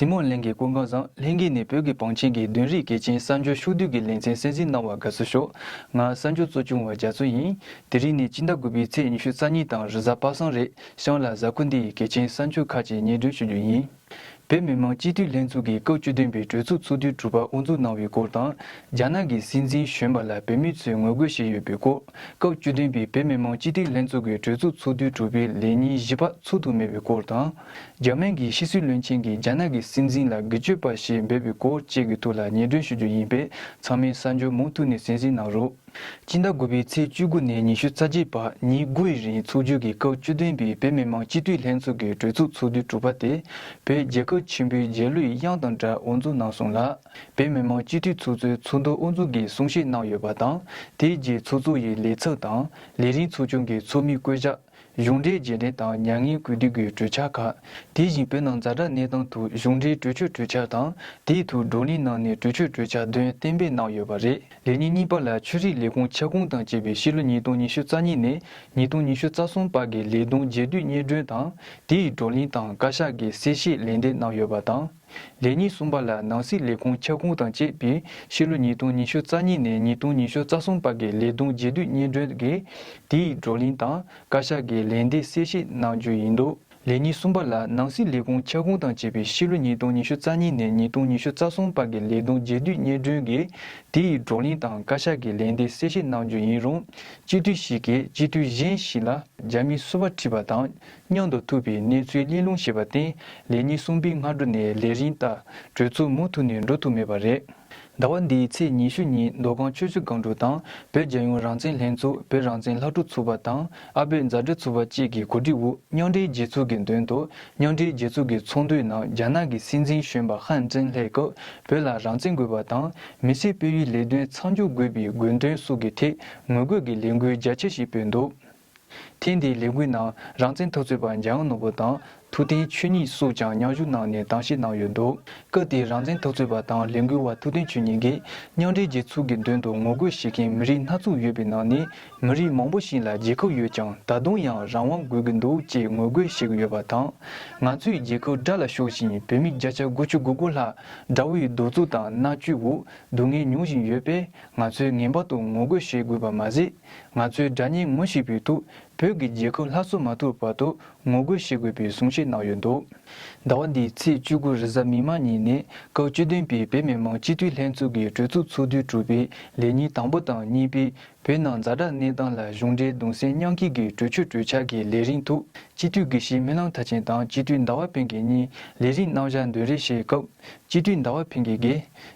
ཟིན་མོ་གླིང་གི་སྐུ་མགྲོན་བཟང་ལྷན་རྒྱས་ནས་བོད་ཀྱི་བང་ཆེན་གྱི་བདུན་རིག་གལ་ཆེན་གསར་འབྱོར་ཕྱོགས་བསྡུས་ཀྱི་ལེ་ཚན་གསན་གཟིགས་གནང་བར་དགའ་བསུ་ཤོག་ང་གསར་འབྱོར་གཙོ་ཆུང་བ་རྒྱ་མཚོ་ཡིན་དེ་རིང་ནས་སྤྱི་ཟླ་དགུ་པའི་ཚེས་ཉི་ཤུ་རྩ་གཉིས་དང་རི་གཟར་པ་སངས་རེས་ཤང་ལ་གཟའ་ཁུ་འདི་ཡི་གལ་ཆེན་གསར་འབྱོར་ཁག་ཅིག་ཉེ་སྒྲོན་ཞུ་རྒྱུ་ཡིན། བོད་མི་མང་སྤྱི་འཐུས་ལྷན་ཚོགས་ཀྱིས་སྐབས་བཅུ་བདུན་པའི་གྲོས་ཚོགས་ཚོགས་དུས་དྲུག་པ་དབུ་འཛུགས་གནང་བའི་སྐོར་དང། རྒྱ་ནག་གི་སྲིད་འཛིན་གཞོན་པ་ལ་བོད་མི་ཚོས་ངོ་རྒོལ་བྱས་ཡོད་པའི་སྐོར། སྐབས་བཅུ་བདུན་པའི་བོད་མི་མང་སྤྱི་འཐུས་ལྷན་ཚོགས་ཀྱི་གྲོས་ཚོགས་ཚོགས་དུས་དྲུག་པའི་ལས་ཉིན་བཞི་པ་ཚུགས་དུ་མེད་པའི་སྐོར་དང། རྒྱ་སྨན་གྱི་ཕྱི་སྲིད་བློན་ཆེན་གྱིས་རྒྱ་ནག་གི་སྲིད་འཛིན་ལ་སྒེར་གཅོད་པ་ཞེས་འབོད་པའི་སྐོར་བཅས་ཀྱི་ཐོག་ལ་ཉེ་སྒྲོན་ཞུ་རྒྱུ་ཡིན་པས་ཚང་མས་གསར་འབྱོར་མུ་མཐུད་ནས་གཟིགས་གཟིགས་གནང་རོགས། སྤྱི་ཟླ་དགུ་པའི་ཚེས་བཅུ་དགུ་ནས་ཉི་ཤུ་རྩ་གཅིག་བར་ཉིན་དགུ་ཡི་རིང་ཚོགས་ཆུང་གི་སྐབས་བཅུ་བདུན་པའི་བོད་མི་མང་སྤྱི་འཐུས་ལྷན་ཚོགས་ཀྱི་གྲོས་ཚོགས་ཚོགས་དུས་དྲུག་པ་དེ་བོད་རྒྱལ་ཁབ་ཆེན་པོའི་རྗེས་ལུས་དབྱངས་དང་སྦྲགས་དབུ་འཛུགས་གནང་སོང་ལ། བོད་མི་མང་སྤྱི་འཐུས་ཚོགས་གཙོའི་ཚོགས་འདུ་དབུ་འཛུགས་ཀྱི་གསུང་བཤད་གནང་ཡོད་པ་དང་དེའི་རྗེས་ཚོགས་གཙོ་ཡི་ལས་ཚབ་དང་ལས་རིང་ཚོགས་ཆུང་གི་ཚོགས་མི་བསྐོས་བཞག་གཞུང་འབྲེལ་རྗེས་དྲན་དང་མྱ་ངན་གུས་འདུད་ཀྱི་གྲོས་འཆར་ཁག་དེ་བཞིན་བོད་ནང་གཟའ་གྲྭ་གནས་སྟངས་ཐུགས་གཞུང་འབྲེལ་གྲོས་ཆོད་གྲོས་འཆར་དང་དེའི་ཐུགས་བགྲོ་གླེང་གནང་ནས་གྲོས་ཆོད་གྲོས་འཆར་དོན་གཏན་འབེབས་གནང་ཡོད་པ་རེད། ལས་ཉིན་གཉིས་པ་ལ་ཆོས་རིག་ལས་ཁུངས་ཁྱབ་ཁོངས་དང་བཅས་པའི་ཕྱི་ལོ་ཉིས་སྟོང་ཉི་ཤུ་རྩ་གཉིས་ནས་ཉིས་སྟོང་ཉི་ཤུ་རྩ་གསུམ་བར་གྱི་ལས་དོན་རྗེས་མཐུད་སྙན་སྒྲོན་དང་དེའི་བགྲོ་གླེང་དང་བཀའ་ཤག་གི་གསལ་བཤད་ལན་འདེབས་གནང་ཡོད་པ་དང། ལས་ཉིན་གསུམ་པ་ལ་ནང་སྲིད་ལས་ཁུངས་ཁྱབ་ཁོངས་དང་བཅས་པའི་ཕྱི་ལོ་ཉིས་སྟོང་ཉི་ཤུ་རྩ་གཉིས་ནས་ཉིས་སྟོང་ཉི་ཤུ་རྩ་གསུམ་བར་གྱི་ལས་དོན་རྗེས་སྡུད་སྙན་སྒྲོན་དགེ་དེའི་བགྲོ་གླེང་དང་བཀའ་ཤག་གི་ལན་འདེབས་གསལ་བཤད་གནང་རྒྱུ་ཡིན་འདུག་ལས་ཉིན་གསུམ་པ་ལ་ནང་སྲིད་ལས་ཁུངས་ཁྱབ་ཁོངས་དང་བཅས་པའི་ཕྱི་ལོ་ཉིས་སྟོང་ཉི་ཤུ་རྩ་གཉིས་ནས་ཉིས་སྟོང་ཉི་ཤུ་རྩ་གསུམ་བར་གྱི་ལས་དོན་རྗེས་སྡུད་སྙན་སྒྲོན་དགེ་དེའི་བགྲོ་གླེང་དང་བཀའ་ཤག་གི་ལན་འདེབས་གསལ་བཤད་གནང་རྒྱུ་ཡིན་རུང་སྤྱི་འཐུས་ཤིག་གིས་སྤྱི་འཐུས་གཞན་ཞིག་ལ་རྒྱ་མིའི་གསོལ་བ་ཁྲིད་པ་དང་སྙིང་དང་ཐུག་པའི་གནས་ཚུལ་གླེང་སློང་བྱས་པར་བརྟེན་ལས་གཉིས་གསུམ་པའི་སྔ་དྲོ་ནས་ལས་རིན་བཏགས་གྲོས་ཚོགས་མུ་མཐུད་ནས་འགྲོ་ཐུབ་མེད་པ་རེད། ཟླ་བ་འདིའི་ཚེས་ཉི་ཤུ་ཉིན་མདོ་སྒང་ཆོས་བརྒྱུད་སྒང་དྲུག་དང་བོད་རྒྱལ་ཡོངས་རང་བཙན་ལྷན་ཚོགས་བོད་རང་བཙན་ལྷ་ཀྲུག་ཚོགས་པ་དང་ཨ་བོད་མཛའ་འབྲེལ་ཚོགས་པ་བཅས་ཀྱི་གོ་སྒྲིག་དབུ་མཉམ་འབྲེལ་རྒྱལ་ཚོགས་ཀྱི་མདུན་དུ་མཉམ་འབྲེལ་རྒྱལ་ཚོགས་ཀྱི་ཚོགས་འདུའི་ནང་རྒྱ་ནག་གི་སྲིད་འཛིན་གཞོན་པ་ཧན་ཀྲེང་ལྷས་སྐབས་བོད་ལ་རང་བཙན་དགོས་པ་དང་མི་སེར་སྤེལ་ཡུལ་ལས་དོན་མཚམས་འཇོག་དགོས་པའི་དགོས་འདུན་སོགས་ཀྱི་ཐད་ངོ་རྒོལ་གྱི་ལས་འགུལ་རྒྱ་ཆེ་ཞིག་སྤེལ་འདུག། ཐེངས་འདིའི་ལས་འགུལ་ནང་རང་བཙན་འཐབ་རྩོད་པ་འཇའ་ཡང་ནོར་བུ་དང་ཐུའུ་བསྟན་ཆོས་ཉིད་སོགས་ཀྱང་མཉམ་ཞུགས་གནང་ནས་གདམ་གཤིས་གནང་ཡོད་འདུག་སྐབས་དེའི་རང་བཙན་འཐབ་རྩོད་པ་དང་ལས་འགུལ་བ་ཐུའུ་བསྟན་ཆོས་ཉིད་ཀྱིས་མཉམ་འབྲེལ་རྒྱལ་ཚོགས་ཀྱི་མདུན་དུ་ངོ་རྒོལ་བྱེད་མཁན་མི་རིགས་སྣ་ཚོགས་ཡོད་པའི་ནང་ནས་མི་རིགས་མང་པོ་ཞིག་ལ་རྒྱལ་ཁབ་ཡོད་ཀྱང་ད་དུང་ཡང་རང་དབང་དགོས་ཀྱི་འདུག་ཅེས་ངོ་རྒོལ་བྱེད་ཀྱི་ཡོད་པ་དང། ང་ཚོས་རྒྱལ་ཁབ་དགྲ་ལ་ཤོག་བཞིན་བོད་མི་བརྒྱ་ཆ་དགུ་ཅུ་དགུ་དགུ་ལྷག་དགྲ་བོའི་གདུག་རྩུབ་དང་མནར་གཅོད་འོག་སྡུག་བསྔལ་མྱོང་བཞིན་ཡོད་པས་ང་ཚོས་ངེས་པར་དུ་ངོ་རྒོལ་བྱེད་དགོས་པ་མ་ཟད། ང་ཚོའི་དགྲ་གཉེན་ངོ་ཤེས་ཕུལ་འདུག་བོད་ཀྱི་རྒྱལ་ཁབ་ལྷ་བཟོ་མ་ཐུབ་བར་དུ་ངོ་རྒོལ་བྱེད་དགོས་པའི་གསུང་བཤད་གནང་ཡོད་འདུག་ཟླ་བ་འདིའི་ཚེས་བཅུ་དགུ་རེས་གཟའ་མིག་དམར་ཉིན་ནས་སྐབས་བཅུ་བདུན་པའི་བོད་མི་མང་སྤྱི་འཐུས་ལྷན་ཚོགས་ཀྱི་གྲོས་ཚོགས་ཚོགས་དུས་དྲུག་པའི་ལས་ཉིན་དང་པོ་དང་གཉིས་པའི་བོད་ནང་རྫ་དྲག་གནས་སྟངས་ལ་གཞུང་འབྲེལ་གདུང་སེམས་མཉམ་སྐྱེད་ཀྱི་གྲོས་ཆོད་གྲོས་འཆར་གྱི་ལས་རིང་ཐུགས་སྤྱི་འཐུས་དགེ་བཤེས་སྨོན་ལམ་མཐའ་ཆེན་དང་སྤྱི་འཐུས་ཟླ་བ་དཔལ་གྱི་གཉིས་ལས་རིང་གནང་བཞག་འདོན་རེ་བྱས་སྐབས་སྤྱི་འཐུས་ཟླ་བ་ཕིང་གིས་དགེ་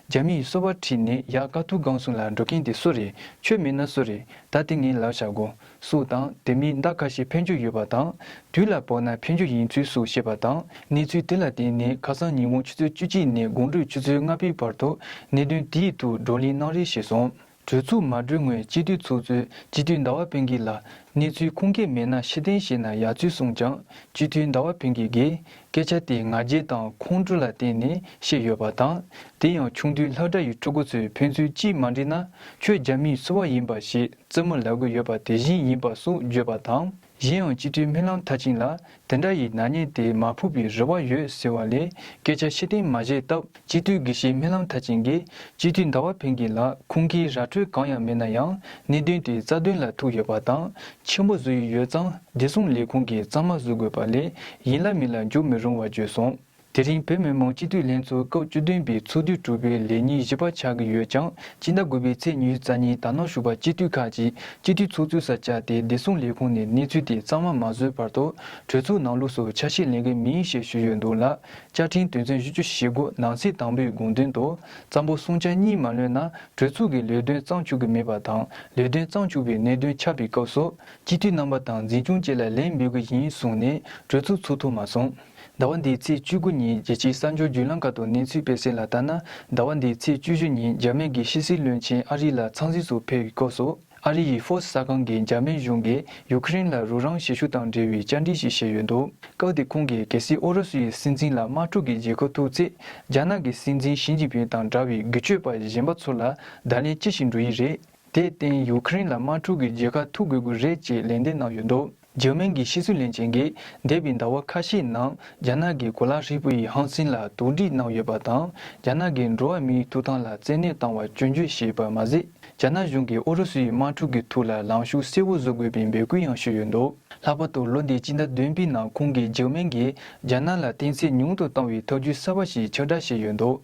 རྒྱ་མི་ཡིས་སོ་བ་ཁྲིད་ནས་ཡག་དཀའ་ཐུག་སྒང་སུང་ལ་འགྲོ་གིན་དེ་སུ་རེད་ཆོས་མེད་ན་སུ་རེད་ད་དེ་ངའི་ལག་ཆ་གོ་སུ་དང་དེ་མིན་ཟླ་ཁ་ཤས་ཕན་རྒྱུ་ཡོད་པ་དང་དུས་ལ་བོར་ན་ཕན་རྒྱུ་ཡིན་ཚུལ་སུ་བཤད་པ་དང་གནས་ཚུལ་དེ་ལ་བརྟེན་ནས་ཁ་སང་ཉིན་དགོང་ཆུ་ཚོད་བཅུ་གཅིག་ནས་དགོང་དྲོད་ཆུ་ཚོད་ལྔ་པའི་བར་དུ་གནད་དོན་དེའི་ཐུག་བགྲོ་གླེང་གནང་རེ་བྱས་སོང། གྲོས་ཚུགས་མ་གྲོལ་སྔོན་སྤྱི་འཐུས་ཚོགས་གཙོས་སྤྱི་འཐུས་ཟླ་བ་བོན་གྱི་ལ་གནས་ཚུལ་ཁུངས་སྐྱེལ་མེད་ན་ཕྱི་གཏན་བཞེས་ན་ཡག་ཚུལ་གསུངས་ཀྱང་སྤྱི་འཐུས་ཟླ་བ་བོན་གྱི་གིས་སྐད་ཆ་དེ་ང་རྒྱལ་དང་ཁོང་ཁྲོ་ལ་བརྟེན་ནས་བཤད་ཡོད་པ་དང་དེ་ཡང་ཆུང་དུས་ལྷ་བྲག་ཡུལ་ཕྲུ་གུ་ཚོས་ཕན་ཚུལ་ཅིས་མ་འདྲི་ན་ཁྱོད་རྒྱ་མིའི་སོ་བ་ཡིན་པ་ཞེས་རྩེད་མོ་ལ་གོ་ཡོད་པ་དེ་བཞིན་ཡིན་པ་སོགས་བརྗོད་པ་དང། གཞན་ཡང་སྤྱི་འཐུས་རྨི་ལམ་མཐར་ཕྱིན་ལ་དེ་འདྲ་ཡི་ནག་ཉེས་དེ་མ་ཕུག་པའི་རེ་བ་ཡོད་ཟེར་བ་ལས་སྐད་ཆ་ཕྱི་བསྟན་མ་བཤད་སྟབས་སྤྱི་འཐུས་དགེ་བཤེས་རྨི་ལམ་མཐར་ཕྱིན་གྱིས་སྤྱི་འཐུས་ཟླ་བ་བྷེ་གྷི་ལགས་ཁུང་གིས་ར་འཕྲོད་གང་ཡང་མེད་ན་ཡང་གནད་དོན་དེ་རྩ་དོན་ལ་ཐུག་ཡོད་པ་དང་ཆེན་པོ་བཟོ་ཡི་ཡོད་ཙང་བདེ་སྲུང་ལས་ཁུང་གིས་གཙང་མ་བཟོ་དགོས་པ་ལས་ཡིན་ལ་མིན་ལ་འཇུག་མི་རུང་བ་བརྗོད་སོང། དེ་རིང་བོད་མི་མང་སྤྱི་འཐུས་ལྷན་ཚོགས་སྐབས་བཅུ་བདུན་པའི་ཚོགས་དུས་དྲུག་པའི་ལས་ཉིན་བཞི་པ་ཆགས་ཀྱི་ཡོད་ཀྱང་སྤྱི་ཟླ་དགུ་པའི་ཚེས་ཉེའུ་རྩ་ཉིན་དར་ནག་ཞུགས་པ་སྤྱི་འཐུས་ཁག་ཅིག་སྤྱི་འཐུས་ཚོགས་ཚུད་སར་བཅར་ཏེ་བདེ་སྲུང་ལས་ཁུངས་ནས་གནས་ཚུལ་དེ་གཙང་མ་མ་བཟོས་བར་དུ་གྲོས་ཚུགས་ནང་ལུགས་སུ་ཆ་ཤས་ལེན་གི་མིན་ཞེས་ཞུས་ཡོད་འདུག་ལ་བཅའ་ཁྲིམས་དོན་ཚན་བཞི་བཅུ་ཞེ་དགུ་ནང་གསེས་དང་པོའི་དགོངས་དོན་དུ་ཙམ་པོ་གསུང་ཆ་གཉིས་མ་ལོན་ན་གྲོས་ཚུགས་ཀྱི་ལས་དོན་གཙང་བཅུག་གི་མེད་པ་དང་ལས་དོན་གཙང་བཅུག་པའི་གནད་དོན་ཆགས་པའི་སྐབས་སུ་སྤྱི་འཐུས་རྣམ་པ་དང་འཛིན་སྐྱོང་བཅས་ལ་ལན་འབུལ་གི་ཡིན་གསུངས་ནས་གྲོས་ཚུགས་ཚུགས་ཐུབ་མ་སོང། ཟླ་བ་འདིའི་ཚེས་བཅུ་དགུ་ཉིན་རྒྱལ་སྤྱིའི་གསར་འབྱོར་བརྒྱུད་ལམ་ཁག་ཏུ་གནས་ཚུལ་སྤེལ་གསལ་ལ་ལྟ་ན། ཟླ་བ་འདིའི་ཚེས་བཅུ་བཞི་ཉིན་འཇར་མན་གྱི་ཕྱི་སྲིད་བློན་ཆེན་ཨ་རི་ལ་འཚང་གཟིགས་སུ་ཕེབས་ཡོད་སྐོར་སོགས་ཨ་རི་ཡི་ཧྥོ་སི་གསར་ཁང་གིས་འཇར་མན་གཞུང་གིས་ཡུ་ཁེ་རིན་ལ་རུ་རང་གཞིས་བཞུགས་དང་འབྲེལ་བའི་བཅར་འདྲི་ཞིག་བྱས་ཡོད་འདུག་སྐབས་དེར་ཁོང་གིས་གལ་སྲིད་ཨུ་རུ་སུ་ཡི་སྲིད་འཛིན་ལ་དམག་འཁྲུག་གི་རྗེས་གོ་ཐུབ་ཚེ་རྒྱ་ནག་གི་སྲིད་འཛིན་ཞི་ཅིན་ཕིན་དང་འདྲ་བའི་རྒྱུ་སྤྱོད་པ་གཞན་པ་ཚོ་ལ་བརྡ་ལན་ཅི་ཞིག་འགྲོ་ཡི་རེད། དེར་བརྟེན་ཡུ་ཁེ་རིན་ལ་དམག་འཁྲུག་གི་རྗེས་ཁ་ཐུག་དགོས་ཀྱི་རེད་ཅེས་ལན་འདེབས་གནང་ཡོད་འདུག། འཇར་མན་གྱི་ཕྱི་སྲིད་བློན་ཆེན་གྱིས་འདས་པའི་ཟླ་བ་ཁ་ཤས་ནང་རྒྱ་ནག་གི་གོ་ལ་ཧྲིལ་པོ་ཡི་ཧང་སན་ལ་དོགས་འདྲི་གནང་ཡོད་པ་དང་རྒྱ་ནག་གིས་འགྲོ་བ་མིའི་ཐུགས་དམ་ལ་བཙན་གནོད་བཏང་བ་སྐྱོན་བརྗོད་བྱས་པ་མ་ཟད་རྒྱ་ནག་གཞུང་གིས་ཨུ་རུ་སུའི་དམག་འཁྲུག་གི་ཐུགས་ལ་ལངས་ཤུགས་གསལ་བོ་བཟོ་དགོས་པའི་འབོད་སྐུལ་ཡང་ཞུས་ཡོད་འདུག་ལྷག་པར་དུ་ལོ་འདི་སྤྱི་ཟླ་བདུན་པའི་ནང་ཁོང་གིས་འཇར་མན་གྱིས་རྒྱ་ནག་ལ་གཏན་ཚིགས་ཉུང་དུ་བཏང་བའི་ཐབས་ཇུས་གསར་བ་ཞིག་ཕྱག་བསྒྲགས་བྱས་ཡོད་འདུག་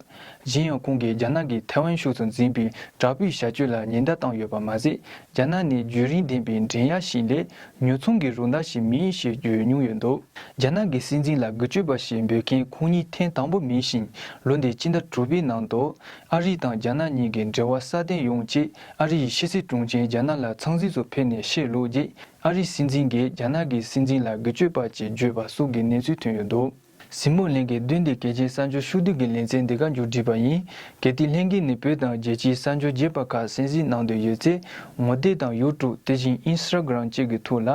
གཞན་ཡང་ཁོང་གིས་རྒྱ་ནག་གིས་ཐའེ་ཝན་ཕྱོགས་སུ་འཛིན་པའི་དྲག་པོའི་བྱ་སྤྱོད་ལ་ཉེན་བརྡ་བཏང་ཡོད་པ་མ་ཟད་རྒྱ་ནག་ནི་རྒྱུན་རིང་ལྡན་པའི་འགྲན་ཡ་ཞིག་ལས་ཉོ་ཚོང་གི་རུ་མདའ་ཞིག་མིན་ཞེས་བརྗོད་མྱོང་ཡོད་འདུག་རྒྱ་ནག་གི་སྲིད་འཛིན་ལ་འགུལ་སྤྱོད་པ་ཞེས་འབོད་མཁན་ཁོང་ཉིད་ཐེངས་དང་པོ་མིན་ཞིང་ལོ་འདི་སྤྱི་ཟླ་དྲུག་པའི་ནང་དུ་ཨ་རི་དང་རྒྱ་ནག་གཉིས་ཀྱི་འབྲེལ་བ་སྲ་བརྟན་ཡོང་ཆེད་ཨ་རི་ཡི་ཕྱི་སྲིད་དྲུང་ཆེ་རྒྱ་ནག་ལ་ཚང་གཟིགས་སུ་ཕེབས་ནས་བཤད་ལུགས་རྗེས་ཨ་རི་སྲིད་འཛིན་གྱིས་རྒྱ་ནག་གི་སྲིད་འཛིན་ལ་འགུལ་སྤྱོད་པ་ཅེས་བརྗོད་པ་སོགས་ཀྱི་གནས་ཚུལ་ཐོན་ཡོད་འདུག། གཟིགས་མོ་ལྷན་རྒྱས་བདུན་ཏེ་གལ་ཆེའི་གསར་འབྱོར་ཕྱུག་བསྡུ་གི་ལེ་ཚན་འདི་ག་མཇུག་བསྒྲིལ་བ་ཡིན། གལ་ཏེ་ལྷན་རྒྱས་ནས་བོད་དང་རྒྱལ་སྤྱིའི་གསར་འབྱོར་རྒྱས་པ་ཁག་གསན་གཟིགས་གནང་འདོད་ཡོད་ཚེ་ངོ་དེབ་དང་ཡོའུ་ཀྲུག་དེ་བཞིན་ཨིན་སི་ར་གྷི་རམ་བཅས་ཀྱི་ཐུགས་ལ་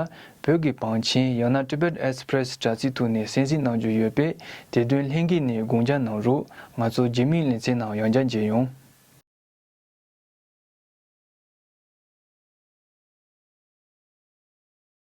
བོད་ཀྱི་བང་ཆེན་ཡང་ན Tibet Express དྲ་ཚིགས་ཐུགས་ནས་གསན་གཟིགས་གནང་རྒྱུ་ཡོད་པས་དེ་དོན་ལྷན་རྒྱས་ནས་དགོངས་འཇགས་གནང་རོགས་ང་ཚོ་རྗེ་མིའི་ལེ་ཚན་ནང་ཡང་བསྐྱར་མཇལ་ཡོང།